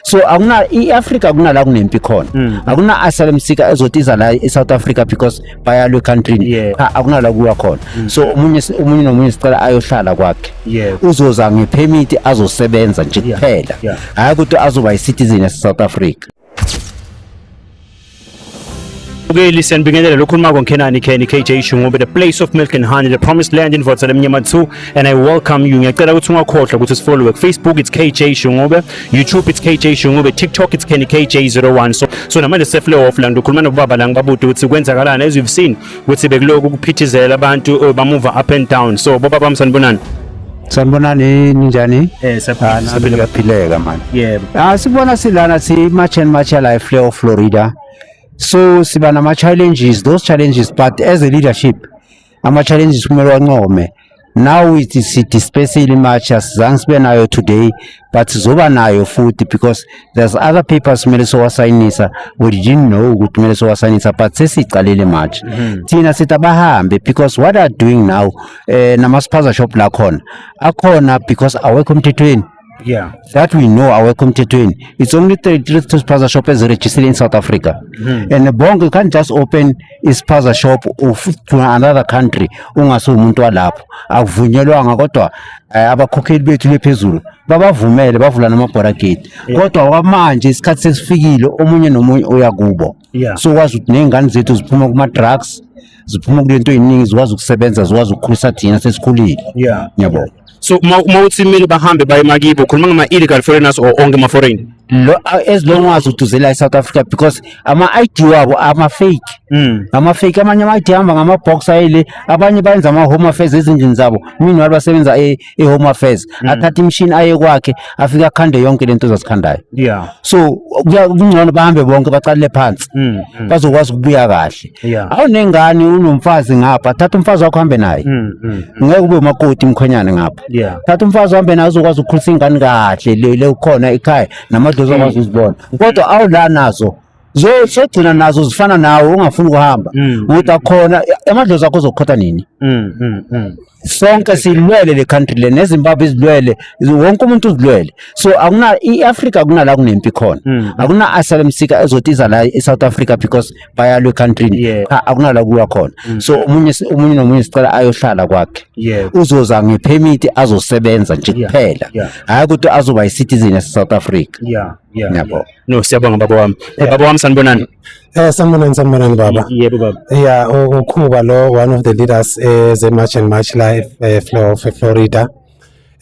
so akuna i-africa akunala kunempi khona mm. akuna asylum seeker ezotiza la e-south africa because bayalwe ekhantrini yeah. cha akunala kuwa khona mm. so omunye omunye nomunye sicela ayohlala kwakhe yeah. uzoza ngephemithi azosebenza nje kuphela yeah. yeah. hhayi ukuthi azoba yi-citizen yase-south africa Okay, listen, bingelela lokhuluma konkenani Kenny KJ Shungobe the place of milk and honey the promised land in Votsa Mnyama 2 and I welcome you. Ngiyacela ukuthi ungakhohlwa ukuthi sifollowe Facebook it's KJ Shungobe, YouTube it's KJ Shungobe, TikTok it's Kenny KJ01. So so namanje sefle off la ngikhuluma nobaba la ngibabude ukuthi kwenzakalani as you've seen ukuthi bekuloku kuphithizela abantu oh, bamuva up and down so boba bami sanibonani sanibonani ninjani eh saphila kaphileka manje yebo ah sibona silana si match and match la eFleo Florida so siba nama challenges those challenges but as a leadership ama challenges kumele wancome now we dispersely much asizange sibe nayo today but zoba nayo futhi because there's other papers kumele sowasayinisa we didn't know ukuthi kumele sowasayinisa but sesiyiqalile much mhm. thina sithi abahambe because what are doing now um eh, namasiphaza shop lakhona akhona because awekho emthethweni Yeah. That we know awekho emthethweni. It's only 33 spaza shop eziregistered in South Africa. Mm. And bonke you can't just open ispaza shop of to another country ungase umuntu walapho. Akuvunyelwanga kodwa eh, abakhokheli bethu bephezulu babavumele bavula namabhora gate. Kodwa kwamanje isikhathi sesifikile omunye nomunye uyakubo. yeah. so wazi ukuthi ney'ngane zethu ziphuma kuma-drugs ziphuma kulento ey'ningi zikwazi ukusebenza zikwazi ukukhulisa thina sesikhulile yeah. yabo yeah. so uma uthi kumele bahambe baye makibo ukhuluma ngama-illegal foreigners or onke ama-foreign lo as long as uduzela e-south africa because ama-i d wabo ama-fake mm. ama-fake amanye ama-i d ahamba ngama-box ayele abanye bayenza ama-home affairs ezindlini zabo mina basebenza e-, i-home affairs mm. athathe imishini aye kwakhe afike akhande yonke lento ozazikhandayo yeah so kungcono bahambe bonke baqalele phansi mm, mm. bazokwazi ukubuya kahle yeah. awunengane unomfazi ngapha thatha umfazi wakho hambe naye mm, mm, mm. ngeke ube umakoti mkhwenyane ngapha yeah. thatha umfazi uhambe naye uzokwazi ukukhulisa ingane kahle le ukhona ekhaya namadlozi akwazi mm. uzibona kodwa awula nazo zogcina nazo zifana nawe ungafuni ukuhamba mm. ukuthi akhona amadlozi akho uzokhotha nini mm, mm, sonke silwele le country le nezimbabwe izilwele wonke umuntu uzilwele so akuna i-africa akunala kunempi khona akuna asylum seeker ezothi iza la e-south africa because bayalwa ekhantrini yeah. akunala kuya khona so omunye omunye nomunye sicela ayohlala kwakhe yeah. uzoza ngephemithi azosebenza nje kuphela yeah. yeah. hhayi ukuthi azoba yi-citizen yase-south africa yeah. yeah. yabo yeah. No, siyabonga baba wami. Eh, baba wami sanibonani. Eh sanibonani sanibonani baba. Yebo baba. Yeah, ukhuba lo one of the leaders eh ze March and March Life eh, Flow of Florida.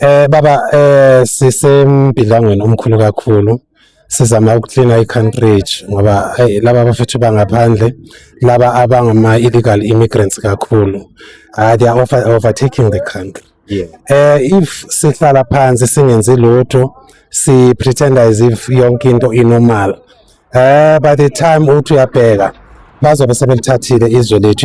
Eh baba eh sisembhilangweni omkhulu kakhulu. Sizama ukucleana i-country ngoba hey, laba bafethu bangaphandle laba abangama illegal immigrants kakhulu. Ah they are over, overtaking the country. yeah. uh, if sihlala phansi singenzi lutho si pretend as if yonke into inormal uh, by the time uthi uyabheka bazobe sebelithathile izwe lethu